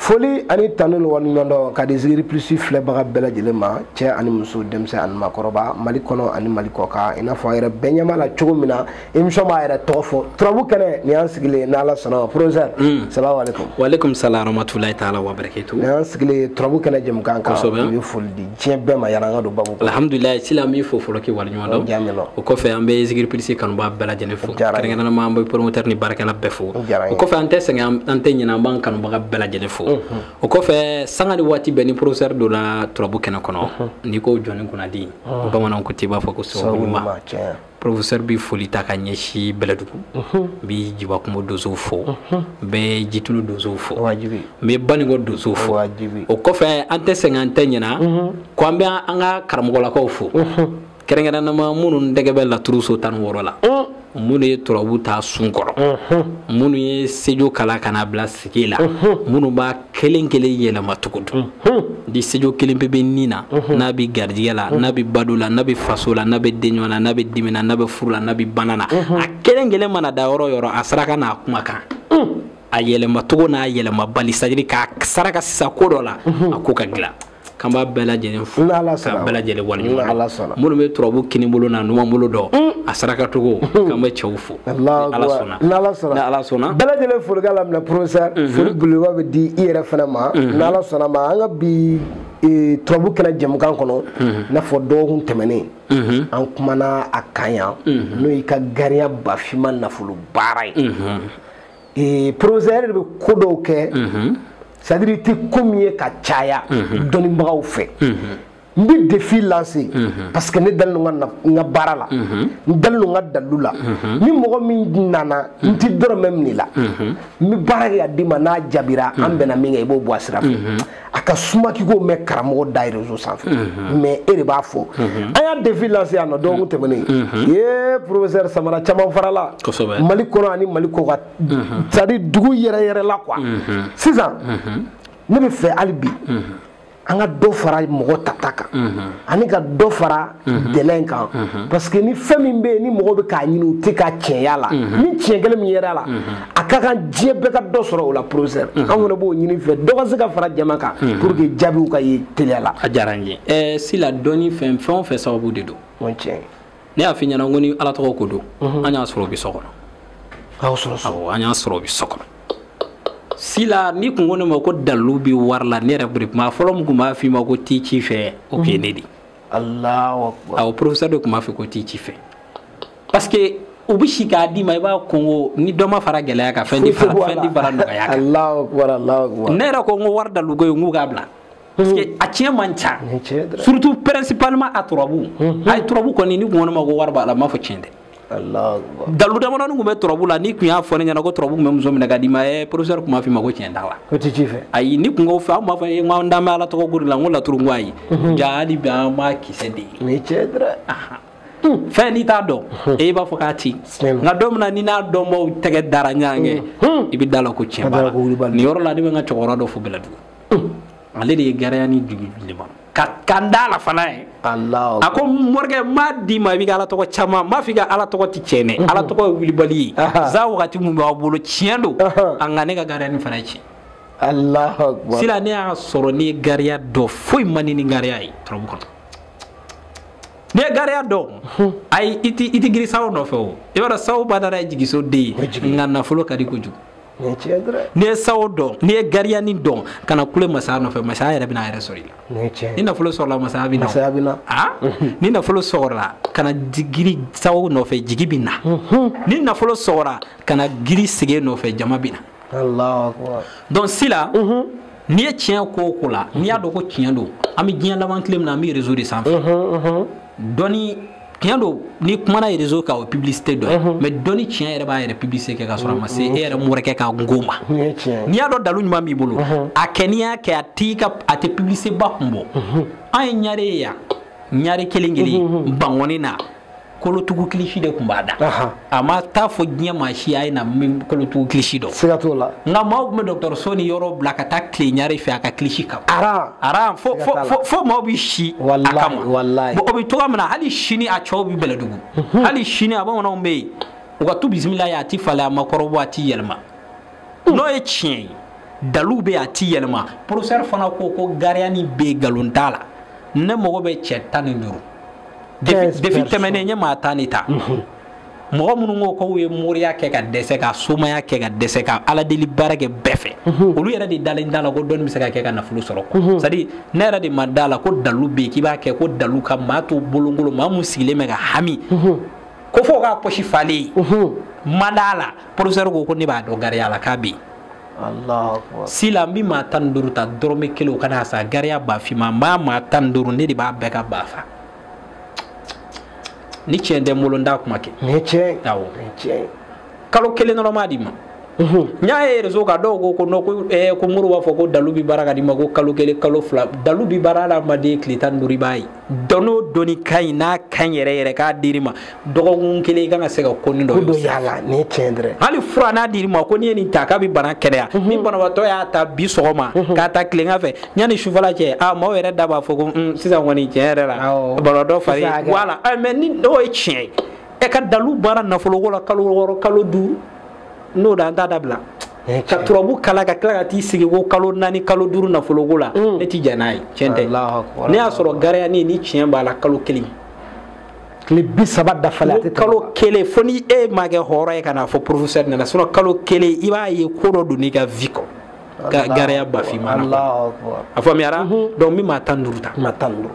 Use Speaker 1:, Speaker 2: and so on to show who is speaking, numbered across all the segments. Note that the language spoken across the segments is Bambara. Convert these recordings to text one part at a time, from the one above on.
Speaker 1: foli ani tanu ni waleɲumandɔn ka di zikiri plus filɛbaga bɛɛ lajɛlen ma cɛɛ ani muso denmisɛn ani makɔrɔba mali kɔnɔ ani mali kɔkan i n'a fɔ a yɛrɛ bɛɛ ɲɛ b'a la cogo min na émission b'a yɛrɛ tɔgɔ fɔ turabu kɛnɛ nin y'an sigilen ni ala sɔnna professeur hmm. salamu aleykum walekum
Speaker 2: salam rahmatulahi taala wabarakatu nin y'an sigilen turabu
Speaker 1: kɛnɛ jɛmukan kan i bɛ foli di diɲɛ bɛɛ ma yanni an ka don babu kɔnɔ alhamdulilayi sila an b'i
Speaker 2: fo fɔlɔ k'i waleɲuman dɔn diyara n ye o kɔfɛ an bɛ zikiri plus kanubaa bɛɛ lajɛlen fo Diyara n ye. kɛrɛnkɛrɛnnama an bɛ promoteur ni baarakɛla bɛɛ fo Diyara n ye. o kɔfɛ an tɛ sɛgɛn an- an tɛ ɲinɛ an b'an kanubaga bɛɛ lajɛlen fo o kɔfɛ sanga ni waati bɛɛ ni professeur donna turabu kɛnɛ kɔnɔ n'i ko jɔni kunnadi bamananw ko t'i b'a fɔ ko sababu sababu ɲuman ɲuman tiɲɛ Professeur bɛ foli ta ka ɲɛsin Bɛlɛdugu, unhun, n bɛ Jiba Kumo donsow fo, unhun, n bɛ Jitumu donsow fo, o ye wajibi ye, n bɛ Banikɔ donsow fo, o ye wajibi ye, o kɔfɛ an tɛ sɛgɛn an tɛ ɲinɛ, unhun, ko an bɛ an ka karamɔgɔlakaw fo, unhun, kɛrɛnkɛrɛnnama minnu tɛgɛ bɛ laturu so 16 la, un, minnu ye turabu ta sun kɔrɔ, unhun, minnu ye sejo kalan ka n'a bila sigi la, unhun, minnu b'a kelen kelen yɛlɛma cogo dɔn di sejo kelen pe bɛ ni na n'a bɛ garijɛgɛ la n'a bɛ bado la n'a bɛ faso la n'a bɛ denɲɔgɔn na n'a bɛ dimi na n'a bɛ furu la n'a bɛ bana na a kelen kelen mana da yɔrɔ yɔrɔ a saraka n'a kuma kan a yɛlɛma cogo n'a yɛlɛma bali c'est-à-dire k'a saraka sisan ko dɔ la a ko ka dilan k'an b'a bɛɛ lajɛlen fo k'a bɛɛ lajɛlen waleɲuman minnu bɛ turabu kini bolo n'a numan bolo dɔn mm. a saraka cogo mm. k'an bɛ cɛw fo ala sɔnna ni ala sɔnna bɛɛ lajɛlen folikan
Speaker 1: lamɛnna professeur mm-hmm. foli belebeleba bɛ di i yɛrɛ fana ma mm-hmm. ni ala sɔnna a ma an ka bi e, turabu kɛnɛ jɛmukan kɔnɔ mm-hmm. i n'a fɔ dɔgɔkun tɛmɛnen an kumana a kan yan n'o y'i ka gariya bafima nafolo baara ye ee professeur bɛ ko dɔw kɛ mhm. c'est-à-dire i tɛ ko min ye ka caya mhm. dɔnnibagaw fɛ mhm. n bɛ défi lancé parce que ne dalen don n ka baara la n dalen don n ka dalilu la ni mɔgɔ min nana n tɛ dɔrɔmɛ minɛ i la n bɛ baara kɛ k'a d'i ma n'a jaabira an bɛnna min kan i b'o bɔ a sira fɛ a ka suma k'i k'o mɛn karamɔgɔ da réseau sanfɛ mais e de b'a fɔ an y'a défi lancé yan n'o dɔgɔkun tɛmɛnen ye professeur samara caman farala mali kɔnɔ ani mali kɔkan c'est-à-dire dugu yɛrɛ yɛrɛ la quoi sisan ne b'a fɛ hali bi an ka dɔ fara mɔgɔ tata kan ani ka dɔ fara Mhm. dilen kan mhm. parce que ni fɛn min bɛ yen ni mɔgɔ bɛ k'a ɲini u tɛ ka tiɲɛ ye a la mhm. ni tiɲɛ kelen min yer'a la a ka kan diɲɛ bɛɛ ka dɔ sɔrɔ o la professeur an fana b'o ɲini i fɛ dɔ ka se ka fara jama kan pour que jaabiw ka ye teliya la. a diyara n ye ɛɛ eh,
Speaker 2: sila dɔnni fɛn fɛn o fɛn sababu de don. o
Speaker 1: tiɲɛ. ne y'a f'i
Speaker 2: ɲɛna ko ni ala tɔgɔ ko don. an y'a sɔrɔ o bɛ so kɔnɔ. a y'o sɔrɔ so. awɔ an y'a sɔrɔ o bɛ so kɔnɔ. sila n'i tun ko ne ma ko dalilu bɛ wari la ne yɛrɛ bɛ kɛ maa fɔlɔ min tun b'a f'i ma ko t'i ci fɛ o tun ye ne de ye.
Speaker 1: aw professeur de tun b'a fɔ
Speaker 2: ko t'i ci fɛ parce que u bɛ se k'a d'i ma i b'a kongo ni dɔ ma fara gɛlɛya kan fɛn ti fara fɛn ti fara nɔgɔya
Speaker 1: kan ne yɛrɛ ko n ko
Speaker 2: wari dalu ko ye n k'u k'a bila parce que a tiɲɛ man ca surtout principalement à turabu ayi turabu kɔni n'i kun ko ne ma ko wari b'a la n b'a fɔ tiɲɛ tɛ
Speaker 1: dalu
Speaker 2: damadɔni tun bɛ turabu la n'i tun y'a fɔ ne ɲɛna ko turabu tun bɛ muso minɛ k'a d'i ma ɛ professeur tun b'a f'i ma ko tiɲɛ t'a la o tɛ ci fɛ ayi n'i
Speaker 1: kun ko fɛn an b'a
Speaker 2: fɔ n k'an dan bɛ ala tɔgɔ ko de la n ko laturu n ko ayi ja hali bi an m'a kisɛ de ye o ye tiɲɛ dɔrɔn fɛn n'i t'a dɔn e b'a fɔ k'a ti nka don min na n'i n'a dɔnbaaw tɛgɛ dara ɲɔgɔn kan i bɛ da la ko tiɲɛ b'a la nin yɔrɔ la ne bɛ n ka cɛkɔrɔba dɔ fo bɛlɛdugu ale de ye gariyani jigin ne ma ka kan da la fana ye a
Speaker 1: ko
Speaker 2: morikɛ n b'a d'i ma i bɛ ka ala tɔgɔ caman ma fi ka ala tɔgɔ tɛ tiɲɛ dɛ mhm. ala tɔgɔ ye wulibali ye sa wagati min b'a bolo tiɲɛ don a nka ne ka gariyani fana ci
Speaker 1: sila ne y'a
Speaker 2: sɔrɔ n'i ye gariya dɔn foyi man ɲi ni gariya ye turabu kɔnɔ n'i ye gariya dɔn mhm. ayi i tɛ giri sawo nɔfɛ o i b'a dɔn sawo badara ye jigiso den ye nka nafolo ka di kojugu n'i ye sawo dɔn n'i ye gariyani dɔn kana kule masaya nɔfɛ masaya yɛrɛ bɛna a yɛrɛ sɔrɔ i la ni nafolo sɔrɔla masaya bɛ masaya bɛ na ah? mhm. ni nafolo sɔrɔla kana giri sawo nɔfɛ jigi bɛ na mhm. ni nafolo sɔrɔla kana giri sige nɔfɛ jama bɛ
Speaker 1: na donc
Speaker 2: sila mhm. n'i ye tiɲɛ ko o ko la n'i y'a dɔn ko tiɲɛ don an bɛ diɲɛ laban tile min na an bɛ réseau de sanfɛ dɔnni tiɲɛ don n'i kumana réseau kan o publicité dɔ ye mhm. mais dɔnni tiɲɛ yɛrɛ b'a yɛrɛ publicité kɛ k'a sɔrɔ a ma se e yɛrɛ morikɛ ka nko ma n'i y'a dɔn dalu ɲuman b'i bolo mhm. a kɛ n'i y'a kɛ a t'i ka a tɛ publicité ba kun bɔ mhm. an ye ɲare ye yan ɲare kelen kelen bankɔni na kolotugu kilisi de tun b'a da a ma taa fɔ diɲɛ maa si a ye na n bɛ kolotugu kilisi dɔn siga t'o la nka
Speaker 1: maaw tun bɛ
Speaker 2: dɔgɔtɔrɔso ni yɔrɔ bila ka taa tilen ɲare fɛ a ka kilisi kama aran aran fo fo fo fo maaw bɛ si a kama
Speaker 1: walayi o bɛ cogoya min
Speaker 2: na hali sini a cɛw bɛ bɛlɛdugu mhm. hali sini a bamananw bɛ yen u ka tu bisimilayi a ti falen a ma kɔrɔbɔ a ti yɛlɛma n'o ye tiɲɛ ye dalu bɛ a ti yɛlɛma professeur fana ko ko gariyani bɛ nkalon t'a la ne mago bɛ cɛ tan ni duuru défi tɛmɛnen n ye maa tan de ta mhm. mɔgɔ minnu ko k'u ye moriya kɛ ka dɛsɛ ka somaya kɛ ka dɛsɛ ka ala deli baara kɛ bɛɛ fɛ mhm. olu yɛrɛ de dalen t'a la ko dɔnni bɛ se ka kɛ ka nafolo sɔrɔ quoi mhm. c'est à dire ne yɛrɛ de ma da la ko dalu bɛ yen k'i b'a kɛ ko dalu ka maa to bolonkolon maa mun sigilen bɛ ka hami ko fo k'a pɔsi fa ne ma d'a la professeur ko ko ne b'a dɔn gariya la k'a bɛ yen sila n bɛ maa tan ni duuru ta dɔrɔmɛ kelen o kana sa gariya ba finman n b'a maa tan ni duuru ne de b'a bɛɛ ka ba fa ni tiɲɛ tɛ n bolo n t'a kuma kɛ nin ye tiɲɛ awɔ kalo kelen dɔrɔn n b'a d'i ma n y'a ye réseau kan dɔw ko ko non ko eh, ko moriw b'a fɔ ko dalu bi baara ka di ma ko kalo kelen kalo fila dalu bi baara adamaden tile tan ni duuru i b'a ye dɔnni o dɔnni ka ɲi n'a ka ɲi yɛrɛ yɛrɛ k'a dir'i ma dɔgɔkun kelen i kan ka se ka ko nin dɔ don y'a la nin ye tiɲɛ
Speaker 1: dɛrɛ hali fura n'a dir'i ma
Speaker 2: ko n'i ye nin ta k'a bɛ bana kɛnɛya mhm. ni banabaatɔ y'a ta bi sɔgɔma mhm. k'a ta tilegan fɛ yanni sufɛla cɛ a maaw yɛrɛ da b'a fɔ ko mm, sisan kɔni tiɲɛ yɛrɛ la banabaatɔ fari voilà mais ni n'o ye tiɲɛ ye e ka dalu baara nafoloko la kalo wɔɔrɔ kalo duuru n'o da an t'a dabila eh, ka turabu kala ka tila ka t'i sigi ko kalo naani kalo duuru nafoloko la mm. ne ti jɛn n'a ye tiɲɛ tɛ n'i y'a sɔrɔ gariya nin ni tiɲɛ b'a la kalo kelen tile
Speaker 1: bi saba dafalen a tɛ kalo kelen fo
Speaker 2: ni e ma kɛ hɔrɔn ye ka n'a fɔ professeur nana sinon kalo kelen i b'a ye ko dɔ donn'i ka vie kɔnɔ gariya bafima na a faamuyara mhm. donc n bɛ maa tan ni duuru ta maa tan ni duuru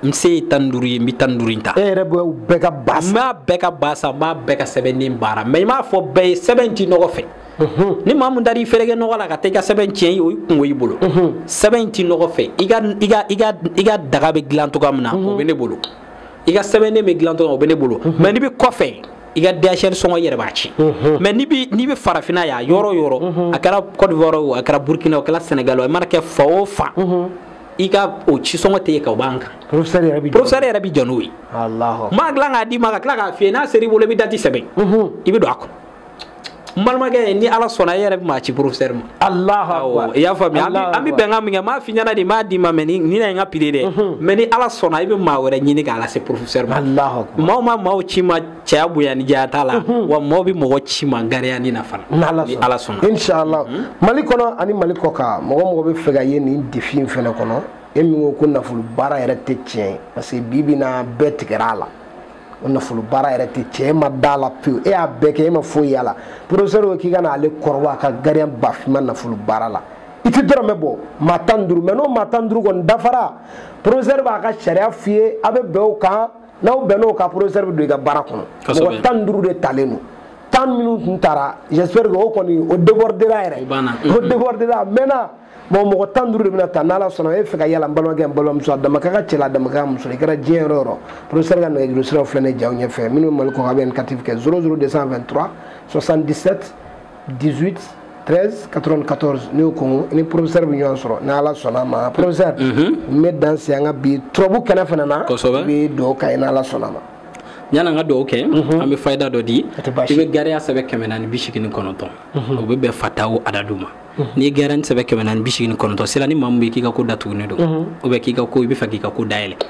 Speaker 2: n se ye tan duuru ye n bɛ tan duuru in ta. e yɛrɛ bɛ bɛɛ
Speaker 1: ka ba san. n b'a bɛɛ ka ba san
Speaker 2: n b'a bɛɛ ka sɛbɛnden baara mais i m'a fɔ bɛɛ ye sɛbɛn ti ɲɔgɔn fɛ. ni maa mun taar'i fereke ɲɔgɔn la ka taa i ka sɛbɛn tiɲɛ ye o kunko y'i bolo. sɛbɛn ti ɲɔgɔn fɛ i ka i ka i ka i ka daga bɛ dilan cogoya min na o bɛ ne bolo i ka sɛbɛnden bɛ dilan cogoya o bɛ ne bolo mais n'i bɛ kɔfɛ. i ka DHL sɔngɔ i yɛrɛ b'a ci mais n'i bɛ n'i bɛ farafinna yan yɔrɔ o yɔrɔ a kɛra Côte d'Ivoire o a kɛra Burkina o a kɛra Sénégal o a mana kɛ fan o fan i ka o cisɔngɔ tɛ e kan o b'an kan professeur yɛrɛ bi
Speaker 1: professeur yɛrɛ bi jɔ
Speaker 2: n'o ye alahu n b'a dilan k'a d'i ma ka tila k'a f'i ye n'a ser'i bolo i bɛ dati sɛbɛn i bɛ don a kɔnɔ n balimakɛ ni ala sɔnna e yɛrɛ bɛ maa ci professeur ma alahu i y'a faamuya an bɛ bɛnkan min kɛ n b'a f'i ɲɛna de n b'a d'i ma mais ni na ye n ka prix dɛ mais ni ala sɔnna i bɛ maa wɛrɛ ɲini k'a lase professeur ma alahu maa o maa maaw ci n ma cɛya bonya ni janya ta la wa mɔgɔ bɛ mɔgɔ ci n ma gariya nin na fana ni ala sɔnna inshallah
Speaker 1: mali kɔnɔ ani mali kɔkan mɔgɔ o mɔgɔ b'a fɛ ka ye nin défi in fana kɔnɔ e min ko ko nafolo baara yɛrɛ tɛ tiɲɛ ye parce que bi bi na bɛɛ tigɛra a la o nafolo baara yɛrɛ tɛ tiɲɛ e ma d'a la pewu e y'a bɛɛ kɛ e ma foyi y'a la professeur ko k'i ka na ale kɔrɔbɔ a ka gariya bafima nafolo baara la i ti dɔrɔmɛ bɔ maa tan ni duuru mais n'o maa tan ni duuru kɔni dafara professeur b'a ka sariya f'i ye a bɛ bɛn o kan n'aw bɛnn'o kan professeur bɛ don i ka baara kɔnɔ mɔgɔ tan ni duuru de talen don tan minnu tun tara j'espère que o kɔni o débordera yɛrɛ o débordera maintenant bon mɔgɔ tan duuru de bɛna ta n'ala sɔnna e fɛ ka y'a la n balimakɛ n balimamuso a damaka ka cɛ la a damaka ka muso i kɛra diɲɛ yɔrɔ o yɔrɔ professeur ka nɛgɛjuru siraw filɛ ne jaw ɲɛfɛ minnu bɛ mali kɔkan a bɛ indicatif kɛ 00223 77 18 13 94 n'i y'o kɔnkɔn i ni professeur bɛ ɲɔgɔn sɔrɔ ni ala sɔnn'a ma professeur mhm. n bɛ dan se an ka bi turabu kɛnɛ fana na kosɛbɛ i bɛ dugawu k'an ye ni ala sɔnn'a ma yann'an ka dugawu
Speaker 2: kɛ mhm. an bɛ fayida dɔ di i bɛ gariya sɛbɛn kɛmɛ naani bi seegin ni kɔnɔntɔn mhm. o bɛ bɛn fataw adadu ma n'i ye gariya sɛbɛn kɛmɛ naani bi seegin ni kɔnɔntɔn sira ni maa min bɛ k'i ka ko datugulen don ou bien k'i ka ko i b'a fɛ k'i ka ko dayɛlɛ